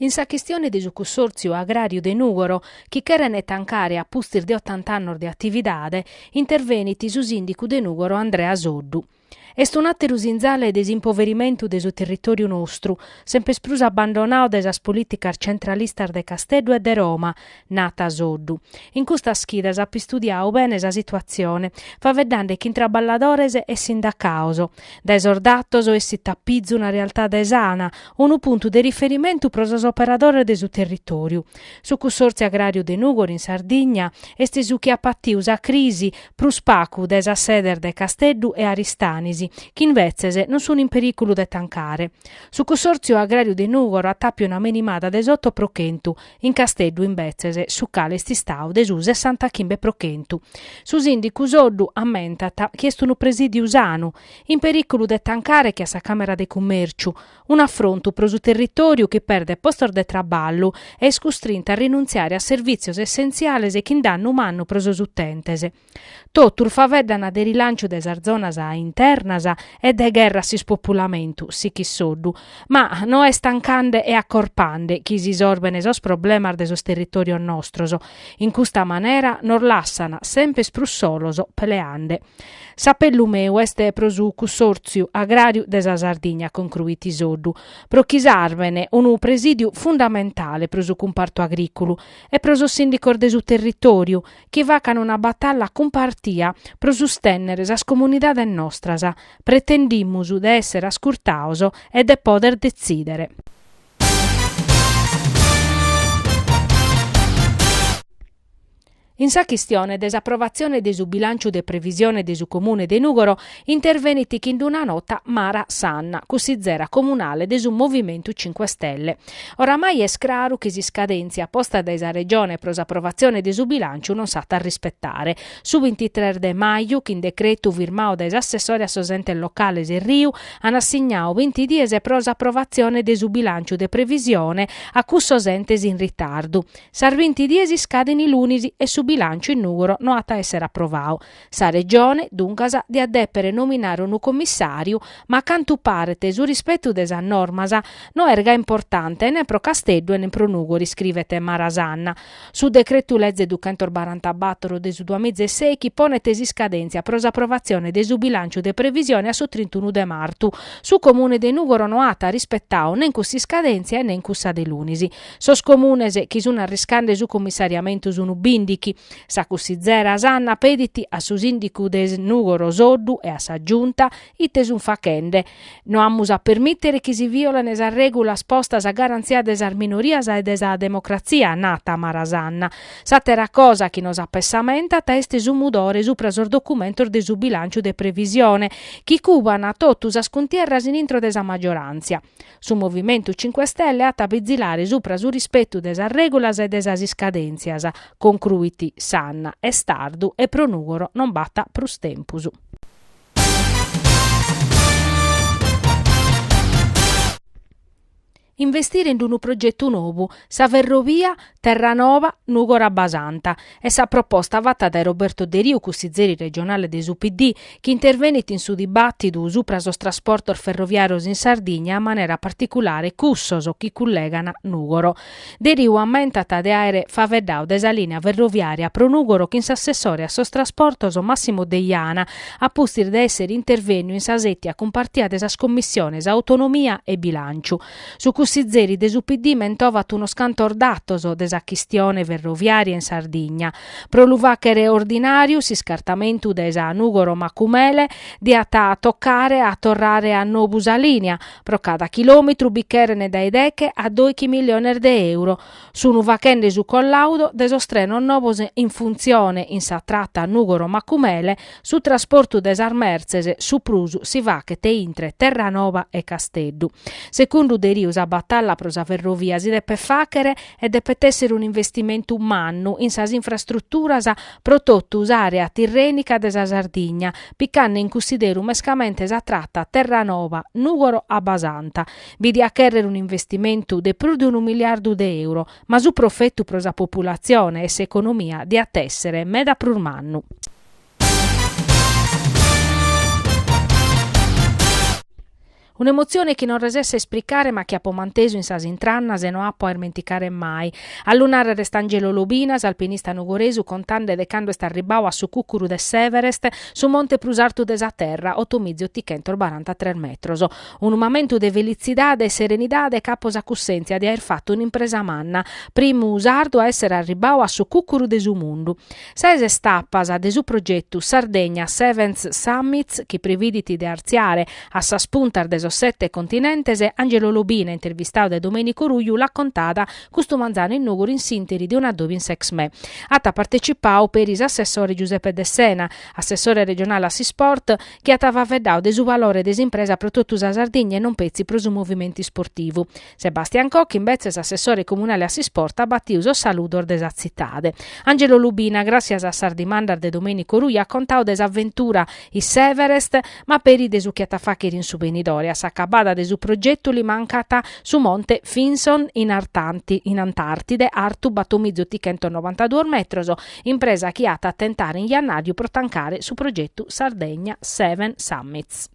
In sa chistione de su Cussòrtziu Agràriu de Nùgoro, chi cherent tancare a pustis de otant'annos de atividade, intervenit su sìndicu de Nùgoro Andrea Soddu. Est un'àteru sinzale de s'impoverimentu de su territòriu nostru, semper prus abbandonadu dae sas polìticas centralistas de Casteddu e de Roma, Nat Soddu. In custas chidas apo istudiadu bene sa situatzione, faeddande chin traballadores e sindacaos. Dae sos datos essit a pizu una realtade sana, unu puntu de riferimentu pro sos operadores de su territòriu. Su Cussòrtziu Agràriu de Nùgoro in Sardigna est su chi at patiu sa crisi prus pagu dae sas sedes de Casteddu e Aristanis, chi imbetzes non sun in perìculu de tancare. Su Cussòrtziu Agràriu de Nùgoro at tàpiu una menimada de s'oto pro chentu, in Casteddu imbetzes, su calu est istadu de su sessantachimbe pro chentu. Su sìndicu Soddu ammentat chi est unu presìdiu sanu, in perìculu de tancare che a sa Càmera de Cummèrciu, un'afrontu pro su territòriu chi perdet postos de traballu e est custrintu a rinuntziare a servìtzios essentziales chin dannu mannu pro sos utentes. Totus faeddana de rilanciu de sas zonas internas e de gherra a s'ispopulamentu, sichit Soddu, ma no est tancande e acorpande chi si sorbene sos problemas de sos territòrios nostros, in custa manera nos lassana sempes prus solos peleande. S'apellu meu est pro su Cussòrtziu Agràriu de sa Sardigna, concruit Soddu, pro chi sarbene unu presìdiu fundamentale pro su cumpartu agrìculu e pro sos sìndicos de su territòriu chi facan una batalla cumpartia pro sustènnere sas comunidades nostras, pretendimus de èssere ascurtados e de pòder detzìdere. In sa chistione de s'aprovatzione de su bilànciu de previsione de su Comune de Nùgoro intervenit chin d'una nota Mara Sanna, cussizera comunale de su Movimentu Cinque Stelle. Oramai est craru chi s'iscadèntzia posta dae sa Regione pro s'aprovatzione de su bilànciu non s'at a rispetare. Su bintitres de maju, chin decretu firmadu dae s'assessore a sos entes locales Erriu, an assignadu binti dies pro s'aprovatzione de su bilànciu de previsione a cussos entes in ritardu. Sas binti dies iscaden lunis e su bilànciu in Nùgoro no at a èssere aprovadu. Sa Regione, duncas, diat dèpere nominare unu commissàriu, ma a cantu paret su rispetu de sas normas no est gai importante nen pro Casteddu e nen pro Nùgoro, scrivet Mara Sanna. Su Decretu-Leze duchentobarantàbatoro de su duamizaesèichi ponet s'iscadèntzia pro s'aprovatzione de su bilànciu de previsione a su trintunu de martu, su Comune de Nùgoro no at rispetadu nen cuss'iscadèntzia e nen cussa de lunis. Sos Comunes chi sun arriscande su cummissariamentu sunu bindighi. Sa cussizera Sanna pedit a su sìndicu de Nùgoro Soddu e a sa Giunta ite sun faghende. No amus a permìtere chi si vìolene sas règulas postas a garantzia de sas minorias e de sa democratzia, nat Mara Sanna. S'àtera cosa chi nos apessamentat est su mudore supra sos documentos de su bilànciu de previsione, chi cuban totu sas cuntierras in intro de sa magioràntzia. Su Movimentu Cinque Stelle at a bizilare supra su rispetu de sas règulas e de sas iscadèntzias, concruit Sanna, est tardu e pro Nùgoro non b'at prus tempus. Investire in unu progetu nou, sa ferrovia Terranova-Nùgoro-Abbasanta. Est sa proposta fata dae Roberto Deriu, cussizeri regionale de su PD, chi intervenit in su dibàtidu supra sos trasportos ferroviàrios in Sardigna, a manera particulare cussos chi cullegan Nùgoro. Deriu ammentat de àere faeddadu de sa lìnia ferroviària pro Nùgoro chin s'assessore a sos trasportos Massimo Deiana, a pustis de èssere intervènniu in sa sètia cumpartia de sas commissiones Autonomia e Bilànciu. Su cussizeri de su PD mentovat unos cantos datos de sa chistione ferroviària in Sardigna. Pro lu fàghere ordinàriu s'iscartamentu de sa Nùgoro-Macumele diat a tocare a torrare a nobu sa lìnia, pro cada chilòmetru bi cheren dae deche a doighi miliones de euro. Sunu fachende su collaudo de sos trenos novos in funtzione in sa trata Nùgoro-Macumele, su trasportu de sas mertzes su prus si faghet intre Terranova e Casteddu. Segundu Deriu sa batalla pro sa ferrovia si depet fàghere e depet èssere un'investimentu mannu in sas infrastruturas pro totu s'àrea tirrènica de sa Sardigna, picande in cussideru mescamente sa trata Terranova-Nùgoro-Abbasanta, bi diat chèrrere un'investimentu de prus de unu miliardu de euro, ma su profetu pro sa populatzione e s'economia diat èssere meda prus mannu. Un'emotzione chi non resesso a ispricare ma chi apo mantesu in sas intrannas e no apo a ismenticare mai. A lu nàrrere est Angelo Lobina, s'alpinista nugoresu, contande de cando est arribbadu a su cùcuru de s'Everest, su monte prus artu de sa terra, otomizi otichentos barantatres metros. Unu mamentu de felitzidade e serenidade ca apo sa cussèntzia de aer fatu un'impresa manna, primu sardu a èssere arribbadu a su cùcuru de su mundu. Ses istapas de su progetu Sardegna Seven Summits chi previdit de artziare a sas puntas de sos sete continentes, Angelo Lobina, intervistadu dae Domenico Ruiu, l'at contada custu manzanu in Nùgoro in s'ìnteri de un'adòbiu in s'Exmè. At partecipadu peri s'assessore Giuseppe Dessena, assessore regionale a s'Isport, chi at faveddau de su valore de s'impresa pro totu sa Sardigna e non petzi pro su movimentu isportivu. Sebastian Cocchi, imbetzes assessore comunale a s'isport, at batiu sos saludos de sa tzitade. Angelo Lobina, gràssias a sas dimandas de Domenico Ruiu, at contau de s'aventura in s'Everest, ma peri de su chi at a fàghere in su benidore. A s'acabada de su progetu li mancat su monte Vinson in Antàrtide, artu batomizzotichentosnovantaduos metros, Impresa chi at a tentare in jannàriu pro tancare su progetu Sardegna Seven Summits.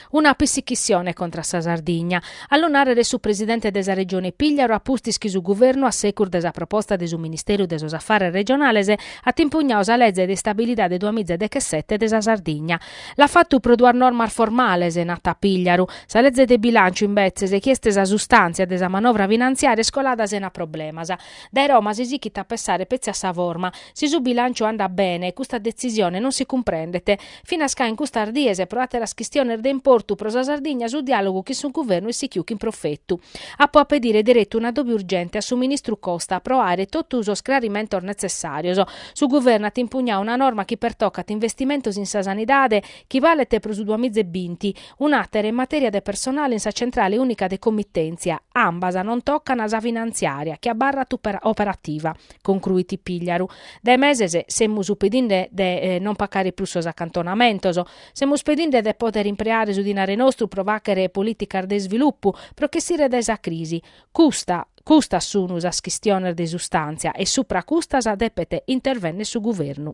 Una pissichissione contra sa Sardigna, a lu nàrrere su presidente de sa Regione Pìgliaru a pustis chi su Guvernu a segus de sa proposta de su Ministeru de sos Afares Regionales at impugnadu sa leze de istabilidade duamiza e dechesete de sa Sardigna, L'at fatu pro duas normas formales, narat Pigliaru. Sa leze de bilànciu, imbetzes, chi est sa sustàntzia de sa manovra finanziària, est colada sena problemas. Dae Roma si sichit a pensare petzi a sa forma. Si su bilànciu andat bene, custa detzisione non si cumprendet. Finas ca in custas dies, pro àteras chistiones de importu pro sa Sardigna, su diàlogu chin su Guvernu est sichiu chin profetu. Apo a pedire deretu un'adòbiu urgente a su ministru Costa pro àere totu sos crarimentos netzessàrios. Su Guvernu at impugnau una norma chi pertocat investimentos in sa sanidade chi balet pro su duamiza e binti, un'àtera in matèria de personale in sa Centrale Ùnica de Comitèntzia, ambas non tocan sa finantziària chi abarrat operativa, concluit Pigliaru. Dae meses semus pedinde de non pacare prus sos acantonamentos, semus pedinde de pòdere impreare su dinare nostru pro fàghere polìticas de isvilupu, pro ch'essire dae sa crisi, Custas sunu sas chistiones de sustàntzia e supra custas depet intervennere su Guvernu.